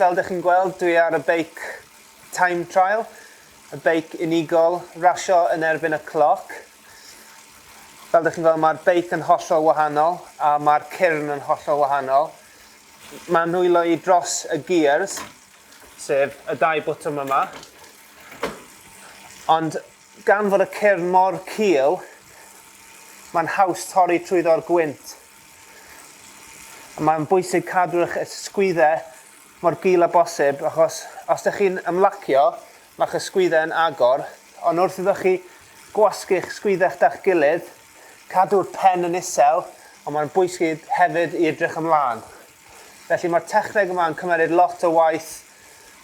Fel dych chi'n gweld, dwi ar y beic time trial, y beic unigol, rasio yn erbyn y cloc. Fel dych chi'n gweld, mae'r beic yn hollol wahanol a mae'r cyrn yn hollol wahanol. Mae nwylo i dros y gears, sef y dau botwm yma. Ond gan fod y cyrn mor cul, mae'n haws torri trwyddo'r gwynt. Mae'n bwysig cadw'ch ysgwyddau mor gul â bosib achos os ydych chi'n ymlacio, mae'ch ysgwyddau yn agor, ond wrth iddo chi gwasgu'ch sgwyddau gyda'ch gilydd, Cadw'r pen yn isel, ond mae'n bwysig hefyd i edrych ymlaen. Felly mae'r techneg yma yn cymeryd lot o waith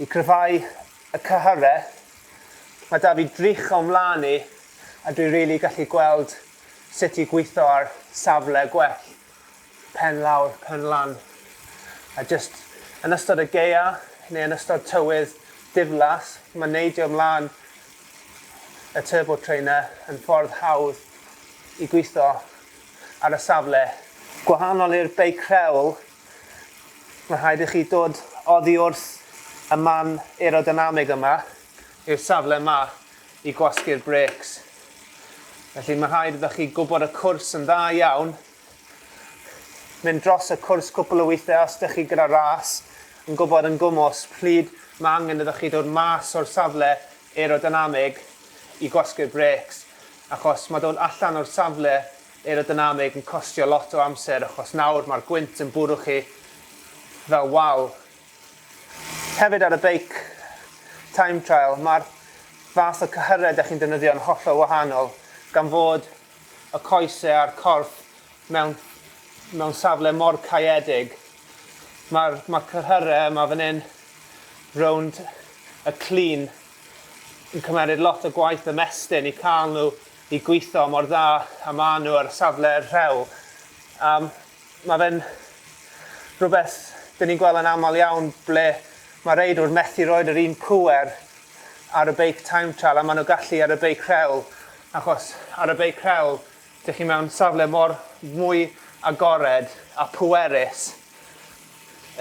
i gryfhau y cyhyrre. Mae 'da fi drych o'm mlan i a dwi rili gallu gweld sut i gwitho ar safle gwell. Pen lawr, pen lan. A jyst yn ystod y gaea neu yn ystod tywydd diflas, mae neidio mlaen y turbo trainer yn ffordd hawdd i gwitho ar y safle. Gwahanol i'r beic rhewl, mae'n rhaid i chi dod oddi wrth y man aerodynamig yma i'r safle yma i gwasgu'r brêcs. Felly mae rhaid iddo chi gwybod y cwrs yn dda iawn, mynd dros y cwrs cwpl o weithiau os ydych chi gyda ras, yn gwybod yn gwmws pryd mae angen iddo chi dod mas o'r safle aerodynamig i gwasgu'r brêcs, achos mae dod allan o'r safle aerodynamig yn costio lot o amser, achos nawr mae'r gwynt yn bwrw chi fel wal. Hefyd ar y beic time trial, mae'r fath o cyhyredd da chi'n defnyddio yn hollol wahanol, gan fod y coesau a'r corff mewn, mewn safle mor caeedig. Mae'r ma cyhyrau yma fan hyn, rownd y clean, yn cymeriad lot o gwaith y mestyn i cael nhw i gweithio mor dda a maen nhw ar safle rhew. Um, Mae fe'n rhywbeth dyn ni'n gweld yn aml iawn ble mae reidwr methu roed yr un pŵer ar y beic time trial a maen nhw gallu ar y beic rhewl achos ar y beic rhewl dych chi mewn safle mor mwy agored a pwerus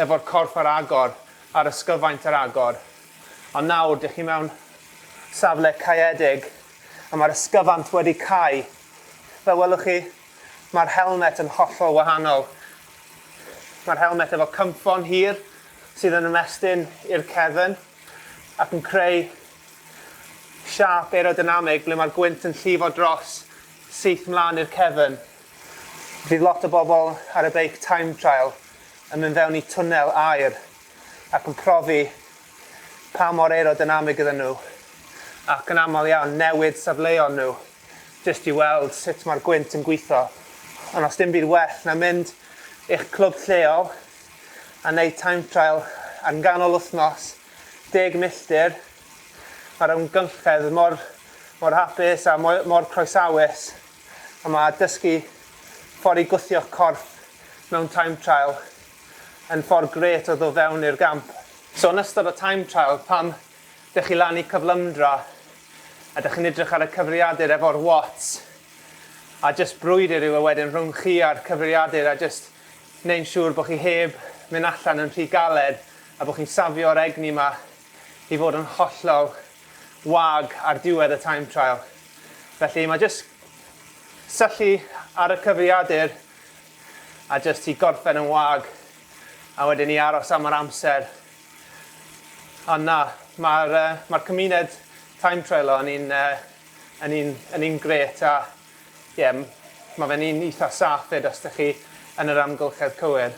efo'r corff ar agor a'r ysgyfaint ar agor ond nawr dych chi mewn safle caeedig a mae'r ysgyfant wedi cau fel welwch chi Mae'r helmet yn hollol wahanol. Mae'r helmet efo cynffon hir sydd yn ymestyn i'r cefn ac yn creu siâp aerodynamig ble mae'r gwynt yn llifo dros syth mlaen i'r cefn. Fydd lot o bobl ar y beic time trial yn mynd fewn i twnnel aer ac yn profi pa mor aerodynamig ydyn nhw ac yn aml iawn newid safleon nhw. jyst i weld sut mae'r gwynt yn gweithio, ond os dim byd well na mynd i'ch clwb lleol a wneud time trial ar nghanol wythnos, deg milltir, mae'r amgylchedd mor, mor hapus a mor, mor croesawus, a mae dysgu ffordd i gwthio'ch corff mewn time trial yn ffordd gret o ddod fewn i'r gamp. So yn ystod y time trial, pam Dych chi lan i cyflymdra a dych chi'n edrych ar y cyfriadur efo'r watts a jyst brwydr yw e wedyn rhwng chi a'r cyfriadur a jyst neu'n siŵr bod chi heb mynd allan yn rhy galed a bod chi'n safio'r egni yma i fod yn hollol wag ar diwedd y time trial. Felly mae jyst syllu ar y cyfriadur a jyst i gorffen yn wag a wedyn i aros am yr amser Ond na, mae'r yy mae'r cymuned time trailo yn un yy yn un yn un grêt a ie m- ma' fe'n un eitha saff 'fyd os dych chi yn yr amgylchedd cywir.